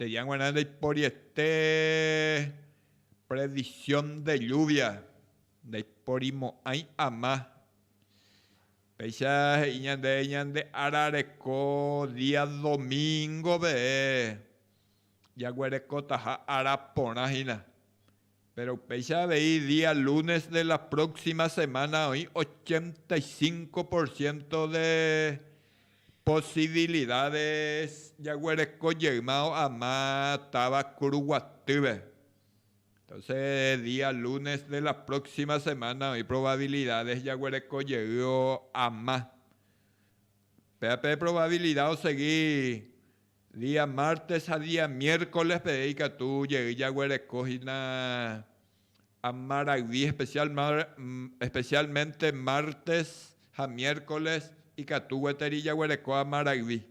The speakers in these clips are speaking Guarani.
Estudia g̃uarã ndaiporiete previsión de lluvia, ndaiporimo'ãi ama. Péicha he'i ñande ñande ára reko día domingo-pe jaguerekotaha ára porã hína. Péro upéicha avei día lúnes de la próksima semána oĩ ochenta y cinco por siénto de posibilidádes jaguereko jeýma o'ama táva Kuruguatýpe. Entónse día lúnes de la próksima semána oĩ provabilidádes jaguereko jey o'ama. Upéva pe provavilida osegi Día mártes ha día miércoles peve ikatu jey jaguereko hína amarayvi especialmente mártes ha miércoles ikatu gueteri jaguereko amarayvi.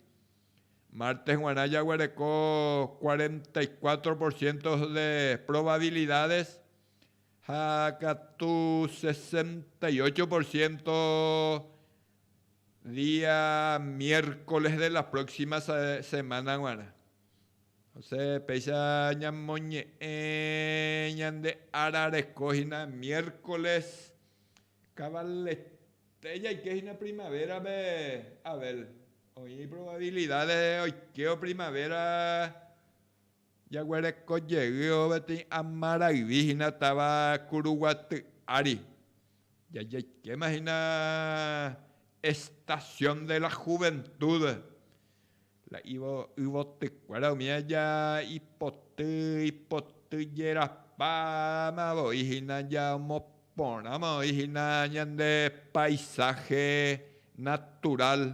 Mártes guarã jaguereko cuarenta y cuatro por ciento de probabilidades ha katu sesenta y ocho por ciento Día miércoles de la próxima semana g̃uarã, osẽ péicha ñamoñe'ẽ ñande ára reko hína miércoles, kavallete jaike hína primavera-pe Abel, oĩ probabilidad de oikévo primavera. Jaguereko jeývo peteĩ ama rayvi hína táva Kuruguaty ári, jajaikéma hína Estación de la Juventud, la yvotykuéra umi aja ipoty ipoty jerapáma voi hína ja omoporãma voi hína ñande paisaje natural.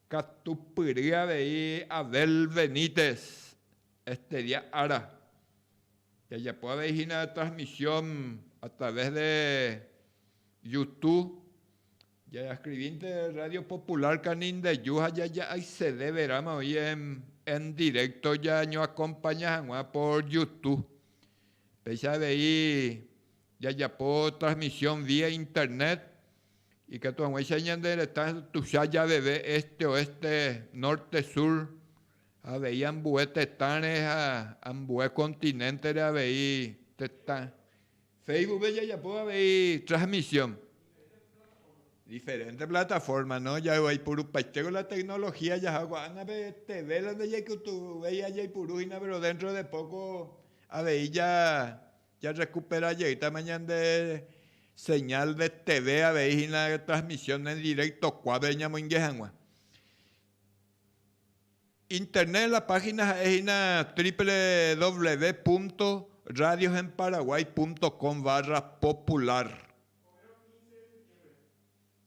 Katupyry avei Adel Benítez estedia ára. Jajapo avei hína transmisión a través de Youtube, jaescribínte Radio Popular Canindeju ha jaja'accede verãma oĩ en directo jañoacompaña hag̃ua por Youtube. Péicha avei jajapo transmisión vía internet. Ikatu hag̃uáicha ñande retã tuicha javeve éste, oéste, nórte, súr, avei ambue tetãre ha ambue kontinéntere avei tetã. Féisbucpe jajapóva avei trasmisión, diferénte platafórma, no ja'évo aipurupaitéko la teknolohía jaha ko'ág̃a pe teve la ndajaikutuvéi ajaipuru hína péro déntro de póko avei Jarrekupera jeýtama ñande señal de teve avei hína transmisión en directo kuápe ñamoinge hag̃ua. Internet la página ha'e hína www.radiosenparaguay.com barra popular.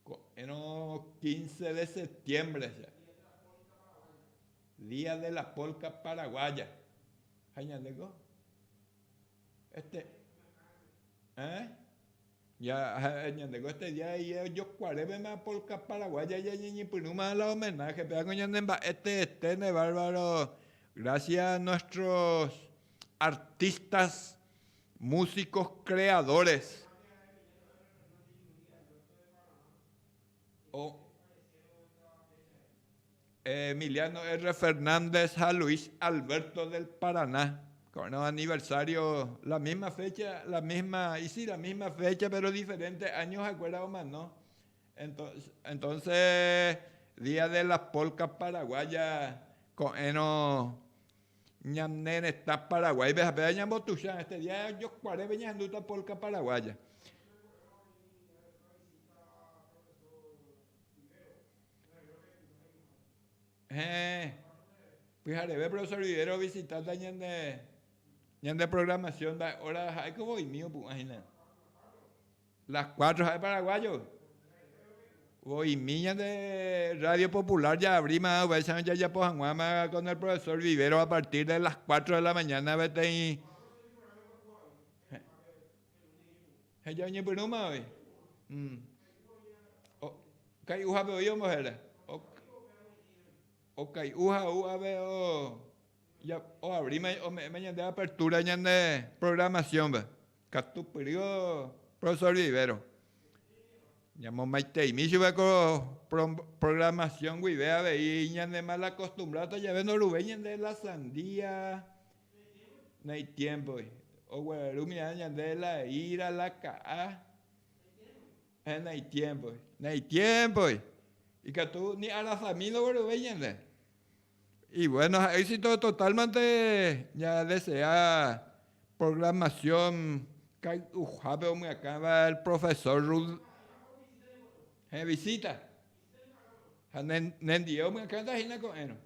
Ko'ẽrõ quince de septiembre, día de la polca paraguaya. Ha ñandéko? Este, eh, ya, ha'e ñandéko este día de ayer ojokuarévema polka paraguaya jañeñepyrũma la homenaje pe, ág̃a ñande mba'e teete ne bárbaro, gracias a nuestros artistas, músicos, creadores. Emiliano R. Fernández ha Luis Alberto del Paraná, ko'ẽrõ aniversario la misma fecha, la misma, y si la misma fecha pero diferente año ha'ekuéra omano. Entonces Día de las Polcas Paraguaya ko'ẽrõ ñane retã Paraguáipe ha péva ñambotuicha, este día jokuarépe ñahendúta polca paraguaya. Heẽ, pyhareve profesor Rivero ovisitánta ñande, ñande programación mba'e óra, ha'éko voimi opu'ã hína. Las cuatro ha'e paraguayo. Voimi ñande radio popular jaavri ma'ã uvaicharõ jajapo hag̃uáma con el profesor Rivero a partir de las cuatro de la mañana peteĩ. Ha jaoñepyrũma oĩ. Okai'uhápe oĩ ombohéra. Okai'u ha ou ápe oabrima, ome'ẽma ñande apertúra ñande programasiónpe. Katu pyry profesór Vivero. Ñamomaiteimi chupe ko programasión guive avei ñanemalakostumbrárta jave ndoruvéi ñande la sandía. No hay tiempo, oguerarumína ñande la ira, la ka'a, ha no hay tiempo, no hay tiempo, ikatu ni arasa mil ogueruvéi ñande. Y bueno ha éxito total mante ña desea programación kay'uhápe omyakãva el profesor Ruth he'visita ha nendie omyakãta hína ko'ẽrõ.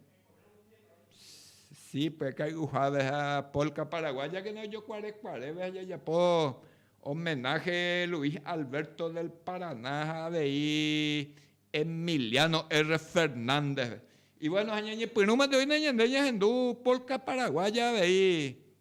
Sí, pues cai'uháve ha polka paraguaya que ojokuarekuaréve ha jajapo homenaje Luis Alberto del Paraná ha avei Emiliano R. Fernández-pe. Y bueno, ha ñañepyrũmante oína ñande ñahendu polka paraguaya avei.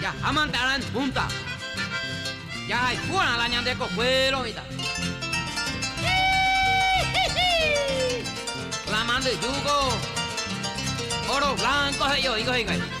Jahámante ára en púnta. Jahayhúrã la ñande kokuéro mitã. Híhíhíh! La mandyjúko óro blanco he'i oĩko hikuái. Híhíhíh!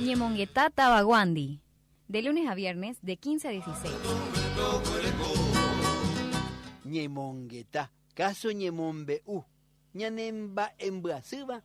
Ñemongeta tavaguándi. De lunes a viernes de 15 a 16. Ñemongeta, káso ñemombe'u. Ñanemba'embyasýva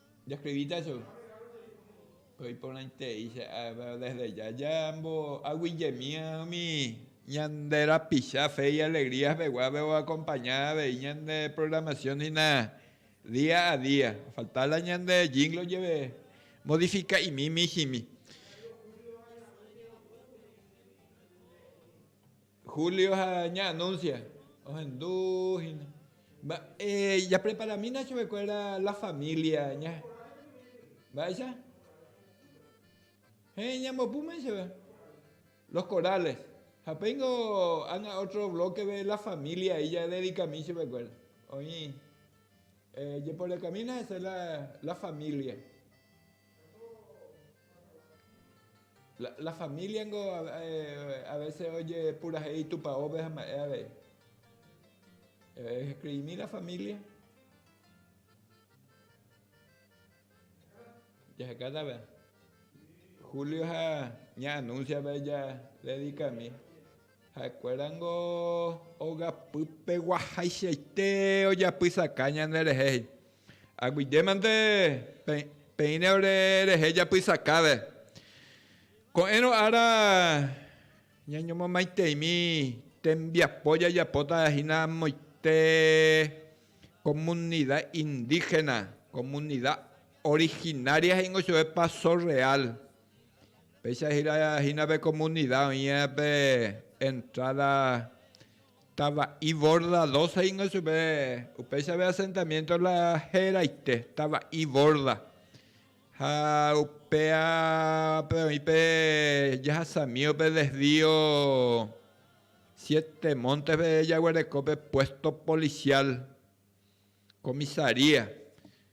Jascribíta che pe iporãitei che ave desde ya jamboaguijemi umi ñande rapicha fe y alegría peguápe o acompaña avei ñande programación hína día a día ofalta la ñande jingle oyepe modifica'imi mijimi. Julio ha ña Anuncia ohendu hína. Mba'e japreparamína chupekuéra la familia ña. Mba'éicha? Heẽ ñambopu mei chéve. Los corales. Ha péingo ág̃a ótro blókeve la familia he'i jadedikami chupekuéra. Oĩ jeporekamína hese la familia. La familia niko a veces ojepurahéi itupãópe ha mba'e avei. Escribimi la familia. Jaheka tave. Julio ha ña anuncia pe ja dedicami. Ha'ekuéra ningo ogapypeguahaichaite ojapysaka ñanderehe, he'i, Aguyjémante peẽrõ rehe japysakáve. Ko'ẽrõ ára ñañomomaiteimi tembiapo jajapóta hína amoite komunida indígena, komunida originaria he'ingo chupe Paso Real. Péicha hína pe komunida oĩ pe entráda Tava'i Borda dóce ningo chupe, upéicha pe asentamiénto la heraite, Tava'i Borda. Ha upévape oĩ pe jahasami pe desvío Siete Montes-pe jaguereko pe puésto polisiál, comisaría.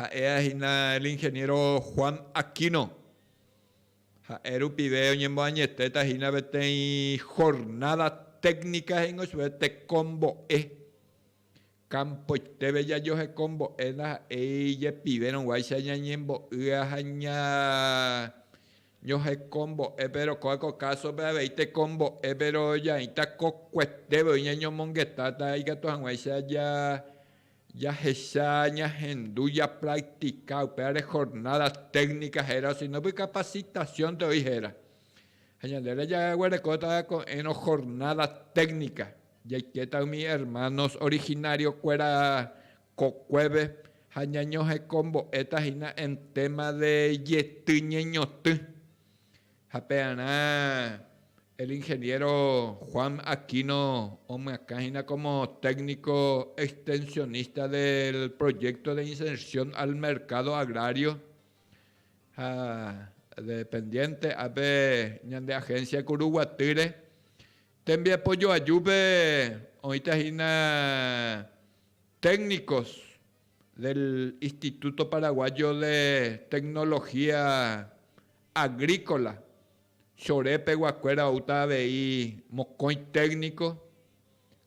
Ha'éva hína el ingeniero Juan Aquino. Ha'e rupive oñemboañetéta hína peteĩ jornada técnica he'íngo chupe tekombo'e. Campoiteve jajoheko mbo'e ndaha'éi jepivérõguáicha ñañembo'ýa ha ñañohekombo'e, péro kó'áko kásope avei tekombo'e, péro jaĩta kokuetévo oĩ ñañomongetáta ikatu hag̃uáicha Jahecha ñahendu japraktika upévare jornada técnica héra osínópe capacitación-pe oĩ héra. Ha ñandéra jaguerekóta ko'ẽrõ jornada técnica, jaikéta umi hermanos originario-kuéra kokuépe ha ñañohekombo'éta hína en tema de jety ñeñotỹ. Ha pearã el ingeniero Juan Aquino omyakã hína como técnico extensionista del proyecto de inserción al mercado agrario ha dependiente ape ñande agencia Kuru Guatýre tembiapo joajúpe oĩta hína técnicos del Instituto Paraguayo de Tecnología Agrícola, Chore peguakuéra oúta avei mokõi técnico,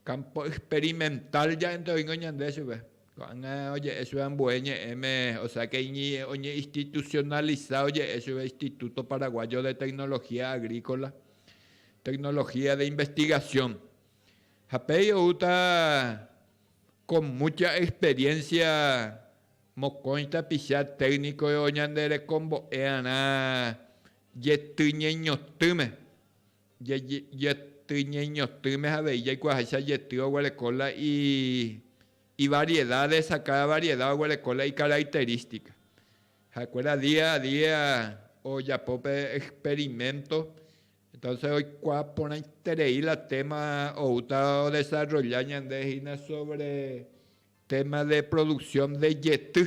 campo experimental ja'énte oĩngo ñande chupe. Ko'ág̃a oje'e chupe ambue ñe'ẽme, o sea que oñeinstitucionaliza oje'e chupe Instituto Paraguayo de Tecnología Agrícola, Tecnología de Investigación. Ha péi oúta Ko múcha experiénsia mokõi tapicha técnico oñanderekombo'earã jetyñeñotỹme. Jetyñeñotỹme avei jaikuaaháicha jety oguereko la ivariedades ha káda variedad oguereko la icaracterística. Ha'ekuéra día a día ojapo pe experimento. Entonces oikuaa porãiterei la téma oúta odesarrolla ñande hína sobre téma de producción de jety.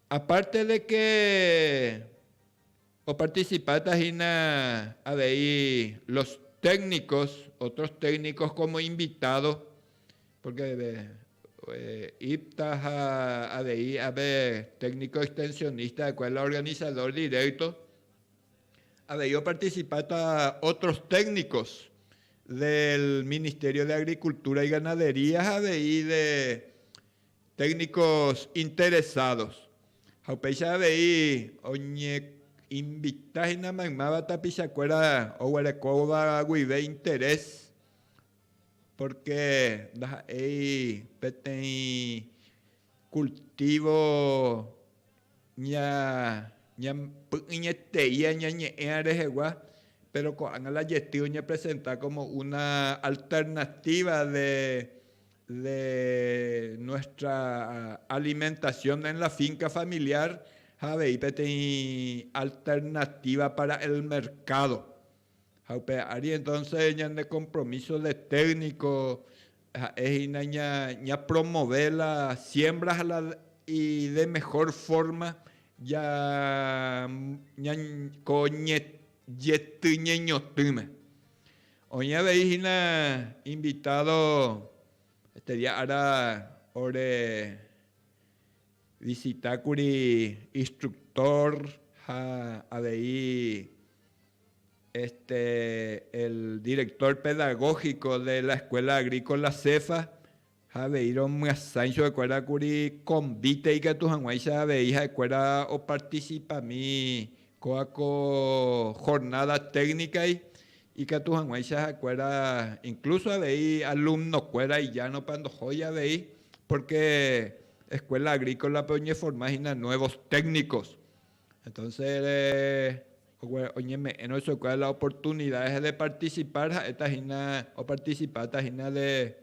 Aparte de que oparticipáta hína avei los técnicos, otros técnicos como invitado, porque IPTA ha avei ape técnico extensionista, kuál la organizador directo, Avei opartisipáta ótros téknikos del Ministerio de Agrikultura y Ganadería ha avei de téknikos interesados. Ha upéicha avei oñeinvita hína maymáva tapichakuéra oguerekóva guive interés. Pórke ndaha'éi peteĩ kultívo py'ỹietei añañe'ẽva rehegua, péro ko'ág̃a la jety oñepresenta kómo una alternatíva de nuestra alimentasión en la finka familiar ha avei peteĩ alternatíva para el merkádo. Ha upe ári entonce ñane compromiso de técnico ha'e hína ña promove la siembra ha la y de mejor forma ya ña ko yety ñeñotỹme. Oĩ avei hína invitado este día ára ore visita kuri instructor ha avei Este el director pedagógico de la escuela agrícola Cefa ha avei romyasãi chupe kuéra kuri convite ikatu haguãicha avei ha'e kuéra o participami kóa ko jornada técnica y ikatu haguãicha ha'e kuéra incluso avei alumno kuéra ijárõpa ndohói avei porque escuela agrícola pe oñeforma hína nuevos técnicos. Entonces oñeme'ẽrõ chupekuéra la oportunidades de participar ha'éta hína oparticipáta hína de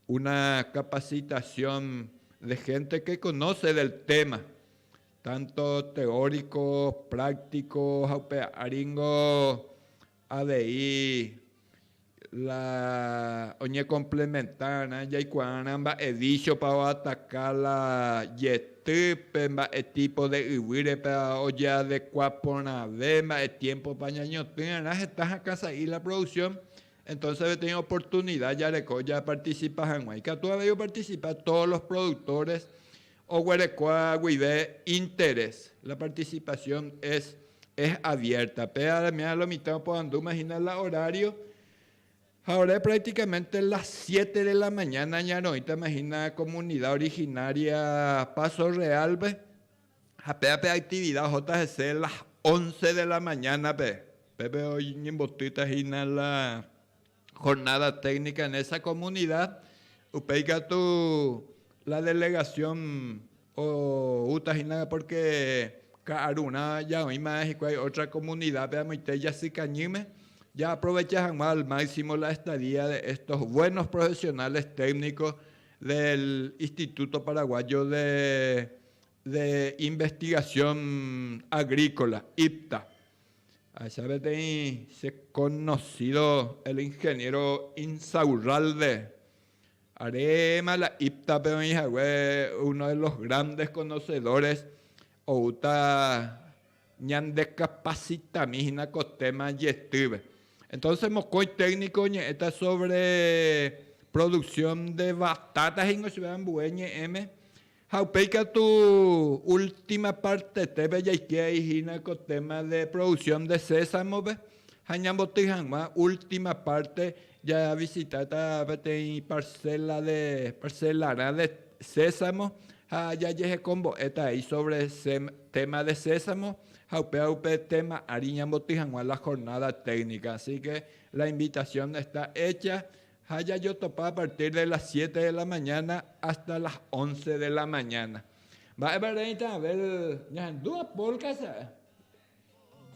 una capacitación de gente que conoce del tema, tanto teórico, práctico ha upe áringo Avei la oñekomplementárõ jaikuaárã mba'e vísiopa oataka la jetýpe, mba'e típo de yvýrepa ojeadekua porãve, mba'e tiémpopa ñañotỹrã heta hakã sa'i la produksión. Entónse peteĩ oportunida jareko japartisipa hag̃ua. Ikatu avei opartisipa tódo los produktores Oguerekóa guive interés. La participación es es abierta. Pe aramia lo mitã opoandúma hína la horario. Ha ore prácticamente las siete de la mañana ñaroĩtama hína comunidad originaria Paso Real-pe. Ha péva pe actividad ohóta hese las once de la mañana-pe. Pépe oñembotýta hína la jornada técnica en esa comunidad, upéi katu la delegación oúta hína porque ka'arurã jaoĩma hikuái otra comunidad-pe amoite jasykañýme, jaaprovecha hag̃ua al máximo la estadía de estos buenos profesionales técnicos del Instituto Paraguayo de de Investigación Agrícola, IPTA. Ahechaveteĩ che conocido el ingeniero Insaurralde, aréma la IPTA-pe oĩ hague uno de los grandes conocedores, oúta ñandecapacitami hína ko téma jetýpe. Entonces mokõi técnico oñe'ẽta sobre producción de batata he'ingo chupe ambue ñe'ẽme, Ha upéi katu última pártepe jaikéi hína ko téma de producción de sésamove ha ñamboty hag̃ua última párte javisitáta peteĩ parcela de parcelarã de sésamo ha jajehekombo'éta avei sobre téma de sésamo ha upéva upe téma ári ñamboty hag̃ua la jornada técnica. Así que la invitación está hecha Ha jajotopa a partir de las siete de la mañana hasta las once de la mañana. Mba'épa reĩta haber ñahendúva polka sa'e.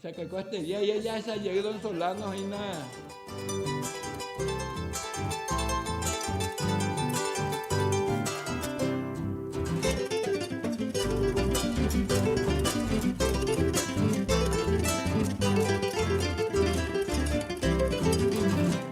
Chakeko este día ya jahecha jey don Solano hína.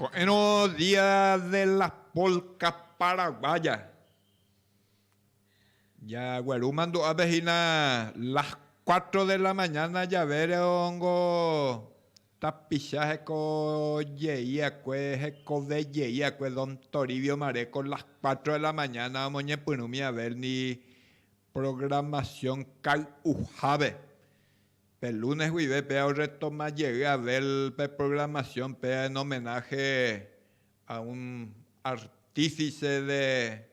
Ko'ẽrõ Día de las Polcas Paraguayas. Jagueru mandu'ápe hína las cuatro de la mañana javére ongo Tapicha hekoje'iakue hekoveje'iakue don Toribio Mareco las cuatro de la mañana omoñepyrũmi averndi programación kay'uhápe. Pe lunes guive péa orretoma jey aver pe programación péa en homenaje a un artífice de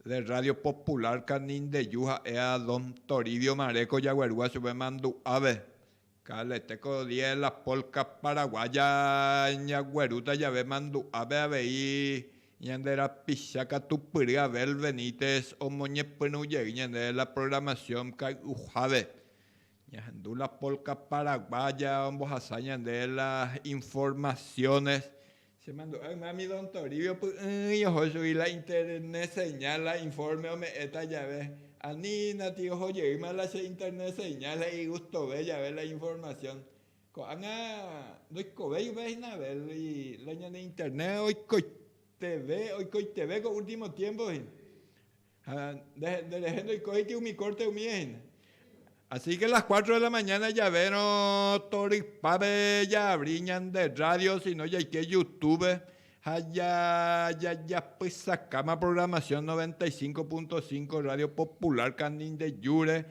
de Radio Popular Canindeyu ha'e a don Toribio Mareco jaguerúva chupe mandu'ápe Calete ko día de la polka paraguaya ñaguerúta jave mandu'ápe avei ñande rapicha katupyry Abel Benítez omoñepyrũ jey ñande de la programación kay'uhápe ñahendu la polka paraguaya ombohasa ñande de las informaciones Chemandu'a ymami don Toribio py'ỹi oho chugui la internet señal la informe ome'ẽta jave. Anína tio oho jeýma la che internet señal la igustove jave la información. Ko'ág̃a ndoikovéi upe hína Abel la ñane internet oikoiteve oikoiteve ko último tiempo hína. Ha nde rehe ndoiko'éiti umi kórte umíva hína. Así ke las cuatro de la mañana javérõ torypápe jaavri ñande rrádio osino jaike Youtube ha jajapysakáma programación noventa y cinco punto cinco rrádio popular Kanindejúre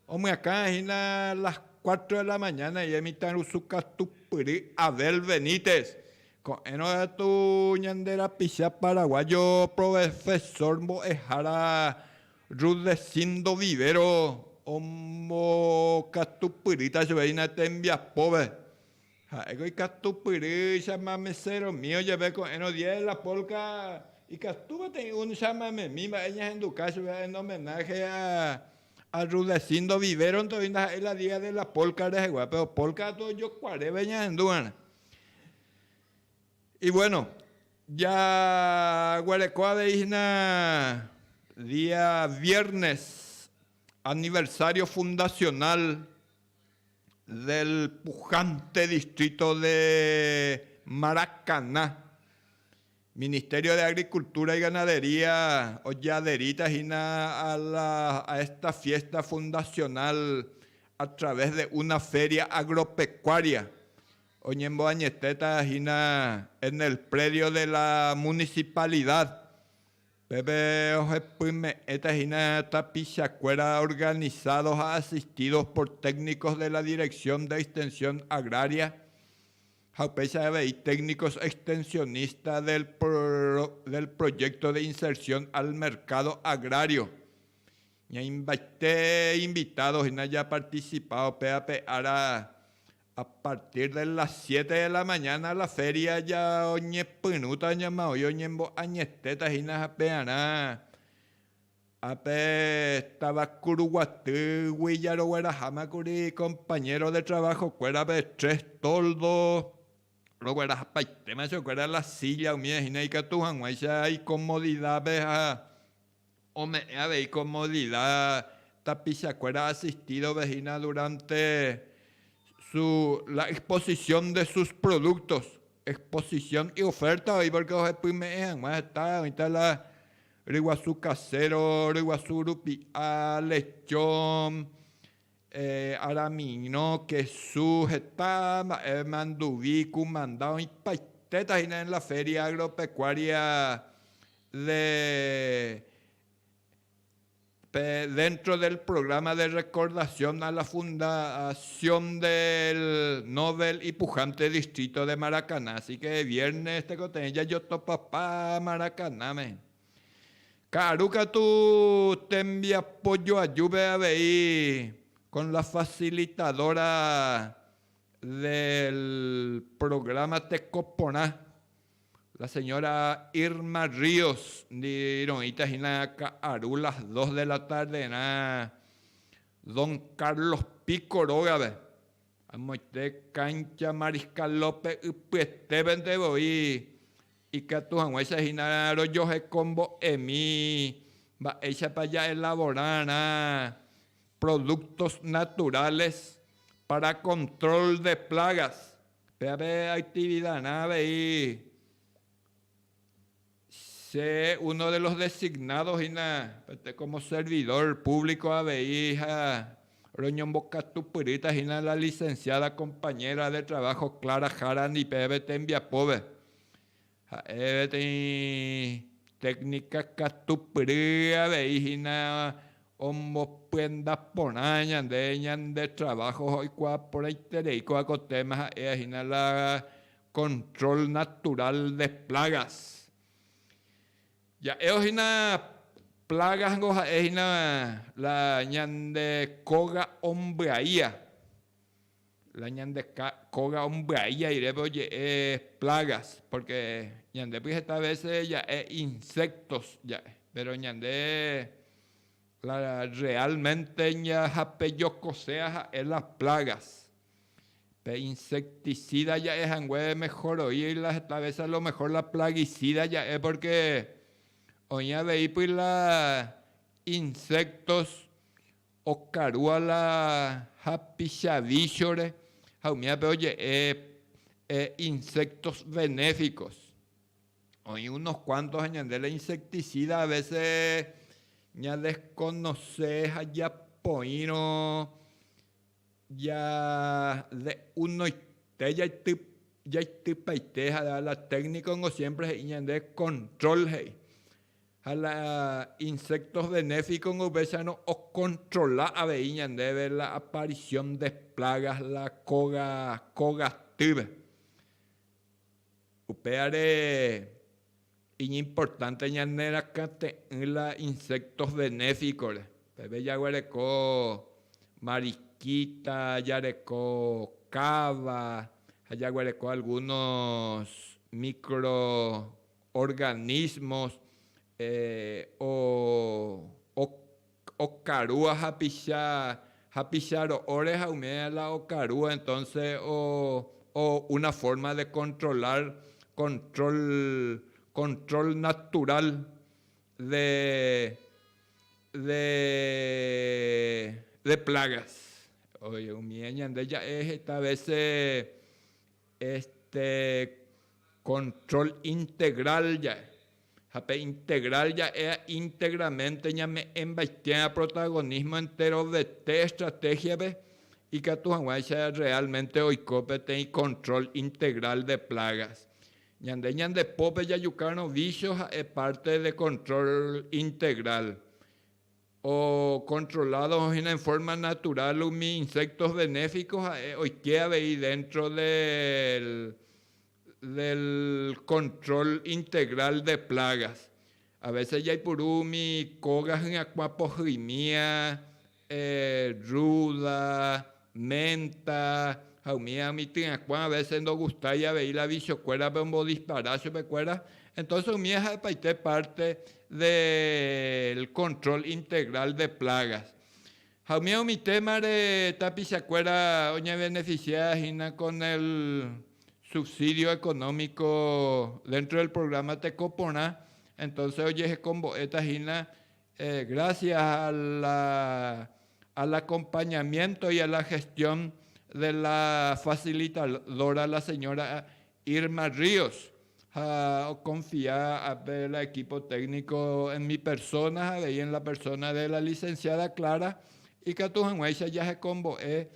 Omyakãha hína las cuatro de la mañana ia imitãrusu katupyry Abel Benítez. Ko'ẽrõ katu ñande rapicha paraguayo provefesór mbo'ehára Rudecindo Vivero ombokatupyrýta chove hína tembiapópe Ha'éko ikatupyrýichama meséromi ojeve ko'ẽrõ día de la polka ikatúva teĩ un chamamemi mba'e ñahenduka chupe en homenaje a Rudecindo Viveronte oĩ ndaha'éi la día de la polka rehegua, péro polka katu ojokuaréve ñahendu va'erã. Y bueno, jaguereko avei hína día viernes aniversario fundacional. del pujante distrito de Maracaná, Ministerio de Agricultura y Ganadería ojaderita hina a la a esta fiesta fundacional a través de una feria agropecuaria oñemboañetéta hina en el predio de la Municipalidad Pépe ohepyme'ẽta hína tapichakuéra organizados ha asistidos por técnicos de la Dirección de Extensión Agraria ha upéicha avei técnicos extensionistas del Proyecto de Inserción al Mercado Agrario. Ñaimbaite invitado hína japarticipa upe ape ára A partir de las siete de la mañana la feria ja oñepyrũta oñemoĩ oñembo'añetéta hína hapearã ápe táva Kuruguatýgui jarogueraháma kuri compañero de trabajo kuérape tres toldo roguerahapaitéma che okuera la silla umíva hína ikatu hag̃uáicha icomodidad-pe ha Ome'ẽ avei ko Molila tapichakuéra asistídove hína duránte su la exposisión de sus productos, exposición y oferta oĩ pórke ohepyme'ẽ hag̃ua heta, oĩta la ryguasu kasero, ryguasu rupi'a, lechón, Aramirõ, kesu, heta mba'e manduvi, kumanda, oĩtaitéta hína en la Feria Agropecuaria de pe dentro del programa de recordación a la fundación del novel y pujante distrito de Maracaná. Así que viernes tekotevẽ jajotopapa Maracanáme. Ka'aru katu tembiapo joajúpe avei con la facilitadora del programa Teko Porã, la señora Irma Ríos ndi roĩta hína ka'aru las dos de la tarde rã Don Carlos Pico rógape, amoite cancha Mariscal López ypyetévente voi. Ikatu hag̃uáicha hína rojoheko mbo'emi mba'éichapa ja'elavorarã productos naturales para control de plagas. Péape actividarã avei che uno de los designados hína como servidor público avei ha roñombokatupyrýta hína la licenciada compañera de trabajo Clara Jara Nipeve tembiapóve. Ha'e peteĩ téknika katupyry avei hína omopienda porã ñande ñande traváho oikuaa porãiterei kóva ko téma ha'éva hína la control natural de plagas. Ja'évo hína plagas-nko ha'e hína la ñande kóga ombyaia. La ñande kóga ombyai airépe oje'e plagas, pórke ñandépi heta vése ja'e insectos ja'e, péro ñande la realmente ñahape jokosea ha'e la plagas. Pe insecticida ja'e hangue mehoroi la heta vése a lo mehor la plaguicida ja'e pórke oĩ aveípy la insectos Okarúa la hapichavíchore ha umi ápe oje'e insectos benéficos. Oĩ unos cuantos ha ñande la insecticida a veces ñadesconoce ha japoĩrõ ja'unoite jaitypaite ha la técnico siempre he'i ñande control he'i. Ha la insectos benéficos-ngo upéicharõ okontrola avei ñandéve la aparición de plagas la kóga, kóga týpe. Upévare iñimportánte ñanerakãte'ỹ la insectos benéficos-re. Peve jaguereko mariquita, jareko káva ha jaguereko algunos micro organismos okarúa hapicha, hapicha ro'óre ha umi aña la okarúa entonce una forma de controlar, control, control natural de, de plagas. Umi aña nde ja'e heta vece. Este control integral ja'e, ha pe integral ja'e integramente ñame'ẽmbaitéva protagonismo enterovete estrategia-pe, ikatu hag̃uáicha realmente oiko peteĩ control integral de plagas. Ñande ñande pópe jajukárõ vicio ha'e parte de control integral. Ocontrolado hína en forma natural umi insectos benéficos ha'e oike avei dentro del control integral de plagas. A veces jaipuru umi koga hyakuã pohyi'mía, ruda, ménta ha umi umi tyrakuã a vése ndogustái avei la vichokuérape ombodispara chupekuéra, entónse umíva ha'epaite párte del kontrol integral de plágas. Ha umíva umi témare tapichakuéra oñevenefisia hína kon el subsídio ekonómiko déntro del prográma Teko Porã, entónse ojehekombo'éta hína Gracias a la al acompañamiento y a la gestión de la facilitadora la señora Irma Ríos ha oconfia ape la equipo técnico en mi persona ha avei en la persona de la licenciada Clara ikatu hag̃uáicha jahekombo'e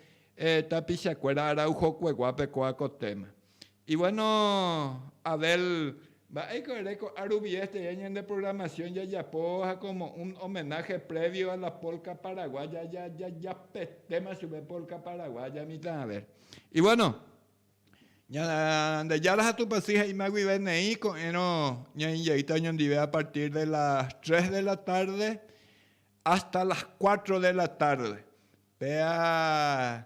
tapichakuéra Araujokueguápe kóa ko téma. Ivuéno Abel, mba'éiko ere ko'ã rupi éste dia ñande programación jajapo ha komo un homenaje previo a la polka paraguaya jajapetéma chupe polka paraguaya mitã. Abel, ivuéno, Ñandejára ha Tupãsy he'íma guive neĩ ko'ẽrõ ñainjeýta oñondive a partir de las tres de la tarde hasta las cuatro de la tarde, péa